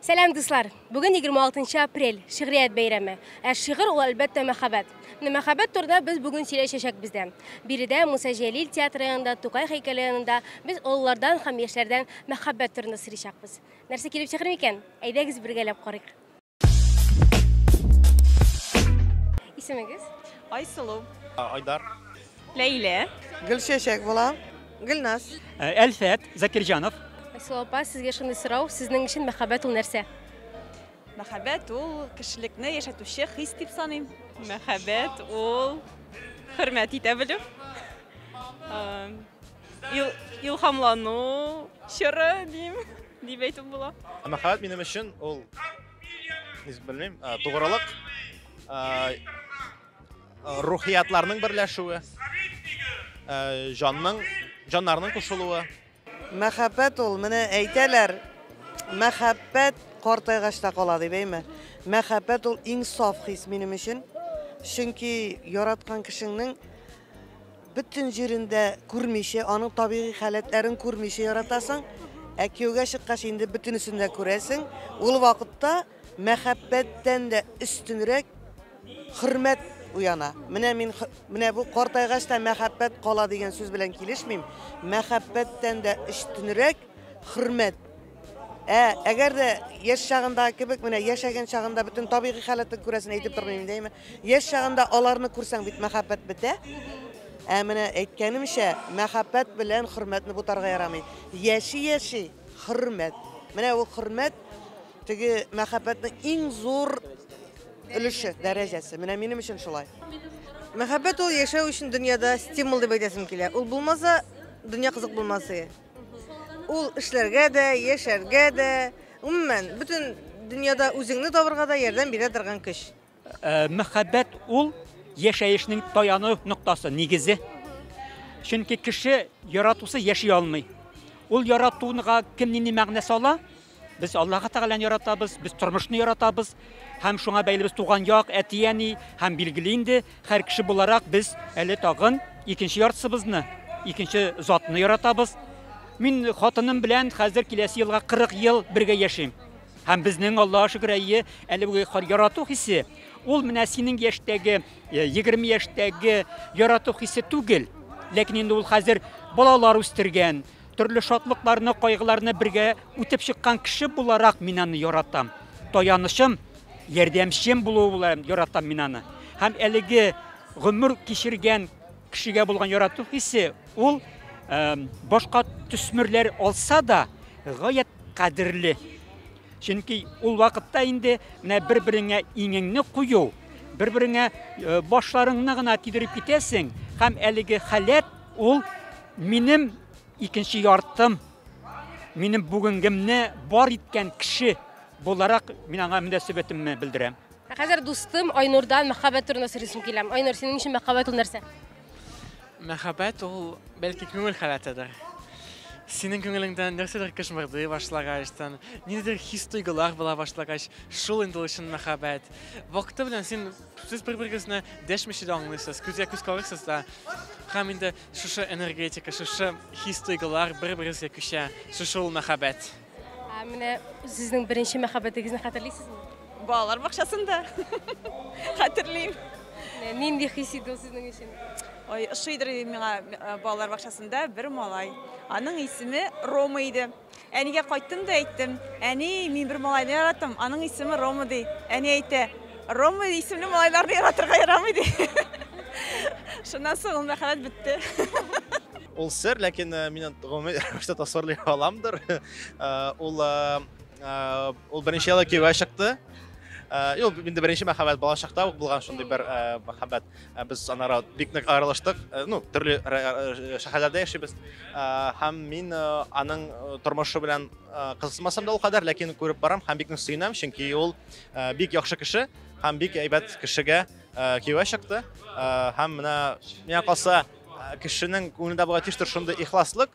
Сәлам, дуслар! Бүген 26 апрель, шигърият бәйрәме. Ә шигырь ул әлбәттә мәхәббәт. Менә мәхәббәт турында без бүген сөйләшәчәк бездә. Биредә Муса Җәлил театры янында, Тукай һәйкәле янында без олылардан һәм яшьләрдән мәхәббәт турында сорыйчакбыз. Нәрсә килеп чыгыр микән? Әйдәгез бергәләп карыйк. Исемегез? Айсылу. Айдар. Ләйлә. Гөлчәчәк була. Гөлназ. Әлфәт Закирҗанов. Айсылу апа, сезгә шундый сорау, сезнең өчен мәхәббәт ул нәрсә? Мәхәббәт ул кешелекне яшәтүче хис дип саныйм. Мәхәббәт ул хөрмәт итә белү, илһамлану чоры дим, дип әйтеп була. Мәхәббәт минем өчен ул, белмим, тугрылык. Рухиятларның берләшүе, җанның, җаннарның кушылуы. Мәхәббәт ул, менә әйтәләр, мәхәббәт картайгач та кала дип әйме. Мәхәббәт ул иң саф хис минем өчен. Чөнки яраткан кешеңнең бөтен җирендә күрмичә, аның табигый халәтләрен күрмичә яратасың. Ә кияүгә чыккач инде бөтенесен дә күрәсең. Ул вакытта Мәхәббәттән дә өстенрәк хөрмәт уяна. Менә мин менә бу картайгач та мәхәббәт кала дигән сүз белән килешмим. Мәхәббәттән дә өстенрәк хөрмәт. Ә әгәр дә яшь чагында кебек менә яшәгән чагында бөтен табигый халәтен күрәсен әйтеп тормыйм инде әйме. Яшь чагында аларны күрсәң бит мәхәббәт бетә. Ә менә әйткәнемчә, мәхәббәт белән хөрмәтне бутарга ярамый. Яши-яши хөрмәт. Менә ул хөрмәт Теге мәхәббәтнең иң зур өлеше, дәрәҗәсе. Менә минем өчен шулай. Мәхәббәт ул яшәү өчен дөньяда стимул дип әйтәсем килә. Ул булмаса, дөнья кызык булмас иде. Ул эшләргә дә, яшәргә дә, гомумән, бөтен дөньяда үзеңне табырга да ярдәм бирә торган көч. Мәхәббәт ул яшәешнең таяну ноктасы, нигезе. Чөнки кеше яратусы яши алмый. Ул яратуга кем нинди мәгънә сала? Без Аллаһы Тәгаләне яратабыз, без тормышны яратабыз һәм шуңа бәйле без туган як, әти-әни һәм билгеле инде һәр кеше буларак без әле тагын икенче яртысыбызны, икенче затны яратабыз. Мин хатыным белән хәзер киләсе елга 40 ел бергә яшим. Һәм безнең, Аллага шөкер, әйе, әле үги хар ярату хисе, ул менә синең яшьтәге, 20 э, яшьтәге ярату хисе түгел. Ләкин инде ул хәзер балалар үстергән, төрле шатлыкларны, кайгыларны бергә үтеп чыккан кеше буларак мин аны яратам. Таянычым, ярдәмчем булуы белән яратам мин аны. Һәм әлеге гомер кичергән кешегә булган ярату хисе Ул башка төсмерләр алса да, гаять кадерле. Чөнки ул вакытта инде менә бер-береңә иңеңне кую, бер-береңә э, башларыңны гына тидереп китәсең, һәм әлеге халәт ул минем икенче яртым, минем бүгенгемне бар иткән кеше буларак мин аңа мөнәсәбәтемне белдерәм. Ә хәзер дустым Айнурдан мәхәббәт турында сөйләсем килә. Айнур, синең өчен мәхәббәт ул нәрсә? Мәхәббәт ул бәлки күңел халәтедер. Синең күңелеңдән нәрсәдер кышмырдый башлагач, тан ниндидер хис-тойгылар була башлагач, шул инде ул чын мәхәббәт. Вакыты белән син сез бер-берегезне дәшмичә дә аңлыйсыз, күзгә күз карыйсыз да. Һәм инде шушы энергетика, шушы хис-тойгылар бер-берегезгә күчә. Шушы ул мәхәббәт. Ә менә сезнең беренче мәхәббәтегезне хәтерлисезме? Балалар бакчасында. Хәтерлим. Нинди хис иде ул сезнең өчен? Ой, ошыйдыр миңа э, балалар бакчасында бер малай. Аның исеме Рома иде. Әнигә кайттым да әйттем, әни, мин бер малайны яратам, аның исеме Рома ди. Әни әйтә, Рома исемле малайларны яратырга ярамый ди. Шуннан соң ул мәхәббәт бетте. Ул сер, ләкин э, мин гомумән рәвештә тасвирлый аламдыр. Э, ул э, э, ул беренче ялы кияүгә чыкты. Э, Юк, инде беренче мәхәббәт бала чакта ук булган шундый бер э, мәхәббәт. Э, Без анара бик нык аерылыштык. Э, Ну, төрле ра- ра- шәһәрләрдә яшибез. Э, Һәм мин э, аның э, тормышы белән э, кызыксынмасам да ул кадәр, ләкин күреп барам һәм бик нык сөенәм, чөнки ул Бик яхшы кеше һәм бик әйбәт кешегә кияүгә чыкты. Һәм менә миңа калса кешенең күңелендә булырга тиештер шундый ихласлык.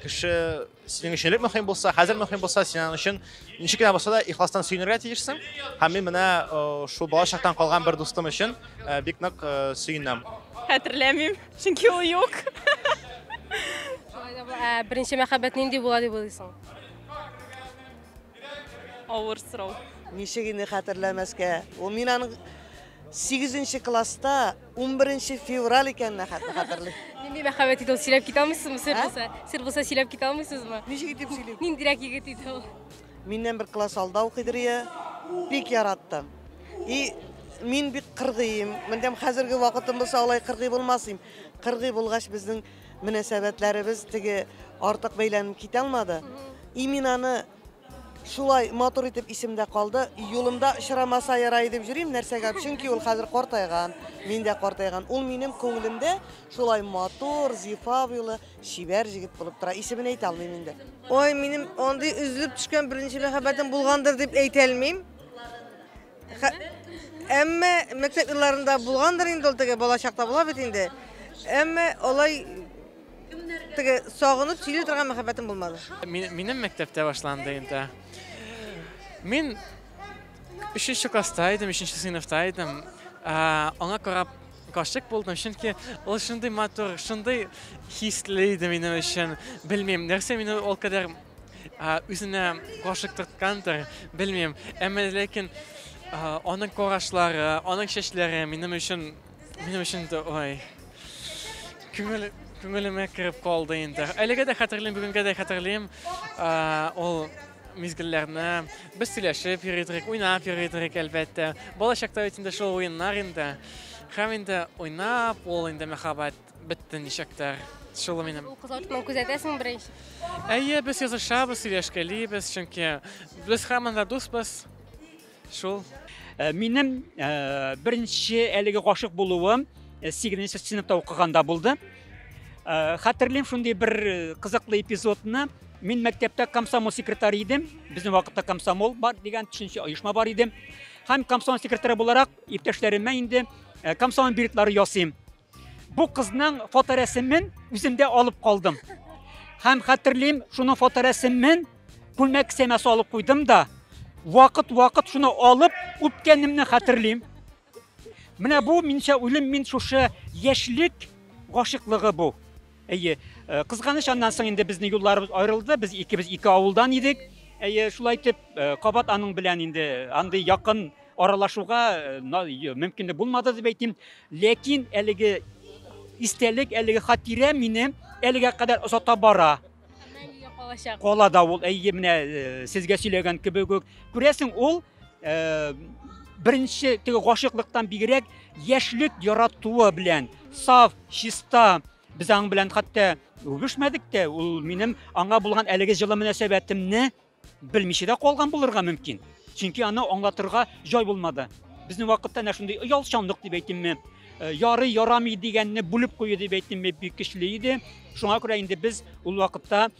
Кеше синең өчен элек мөһим булса, хәзер мөһим булса, синең өчен ничек кенә булса да ихластан сөенергә тиешсең. Һәм мин менә шул бала чактан калган бер дустым өчен бик нык сөенәм. Хәтерләмим, чөнки ул юк. Шулай да беренче мәхәббәт нинди була дип уйлыйсың? Авыр сорау. Ничек инде хәтерләмәскә. Ул мин аның 8 класста 11 февраль икәненә хәтле хәтерлим. Нинди мәхәббәт иде ул, сөйләп китә алмыйсызмы, сер Ә? булса? Сер булса сөйләп китә алмыйсызмы? Ничек итеп сөйлим? Ниндирәк егет иде ул? Миннән бер класс алда укыйдыр иә. Бик яраттым. И мин бик кыргыйм. Мендәм хәзерге вакытым булса алай кыргый булмас идем. Кыргый булгач безнең мөнәсәбәтләребез теге артык бәйләнеп китә алмады. Иминаны шулай матур итеп исемдә калды. Юлымда очрамаса ярай дип йөрим, нәрсәгә? Чөнки ул хәзер картайган, мин дә картайган. Ул минем күңелемдә шулай матур, зифа буйлы, чибәр җегет булып тора. Исемен әйтә алмыйм инде. Ой, минем андый өзелеп төшкән беренче мәхәббәтем булгандыр дип әйтә алмыйм. Әмма мәктәп елларында булгандыр инде ул теге бала чакта була бит инде. Әмма алай теге сагынып сөйли торган мәхәббәтем булмады. Минем мәктәптә башланды инде. Мин 3нче класста идем, 3нче сыйныфта идем. Аңа карап гашык булдым, чөнки ул шундый матур, шундый хисле иде минем өчен. Белмим, нәрсә мине ул кадәр үзенә гашыктырткандыр, белмим. Әмма ләкин аның карашлары, аның чәчләре минем өчен минем өчен дә ой. Күңел күңелемә кереп калды инде. Әлегә дә хәтерлим, бүгенгә дә хәтерлим. Ул мизгелләрне без сөйләшеп йөридек, уйнап йөридек, әлбәттә. Балачакта бит инде шул уеннар инде. Һәм инде уйнап, ул инде мәхәббәт Бетте ничектер. Шул минем. Ул кызлар тотман күзәтәсең беренче. Әйе, без язышабыз, сөйләшкәлибез, чөнки без һаман да дусбыз. Шул. Э, минем э, беренче әлеге гашык булуым 8 э, сыныпта укыганда булды. Хәтерлим шундый бер кызыклы эпизодны. Мин мәктәптә комсомол секретарь идем. Безнең вакытта комсомол бар дигән төшенчә оешма бар иде. Һәм комсомол секретаре буларак иптәшләремә инде комсомол билетлары ясыйм. Бу кызның фоторәсемен үземдә алып калдым. Һәм хәтерлим, шуның фоторәсемен күлмәк кесәмә салып куйдым да, вакыт-вакыт шуны алып үпкәнемне хәтерлим. Менә бу минчә уйлым мин шушы яшьлек гашыклыгы бу. Әйе, э, кызганыч аннан соң инде безнең юлларыбыз аерылды, без икебез ике авылдан идек. Әйе, шулай итеп, э, кабат аның белән инде андый якын аралашуга э, на- й- мөмкинлек булмады дип әйтим. Ләкин әлеге истәлек, әлеге хатирә мине әлегә кадәр озата бара. Мәңгегә калачак. Кала да ул, әйе, менә э, сезгә сөйләгән кебек үк. Күрәсең, ул Э, беренче теге гашыйклыктан бигрәк яшьлек яратуы белән саф чиста без аның белән хәтта үбешмәдек тә ул минем аңа булган әлеге җылы мөнәсәбәтемне белмичә дә калган булырга мөмкин чөнки аны аңлатырга җай булмады безнең вакытта әнә шундый оялчанлык дип әйтимме э, ярый ярамый дигәнне бүлеп кую дип әйтимме бик көчле иде шуңа күрә инде без ул вакытта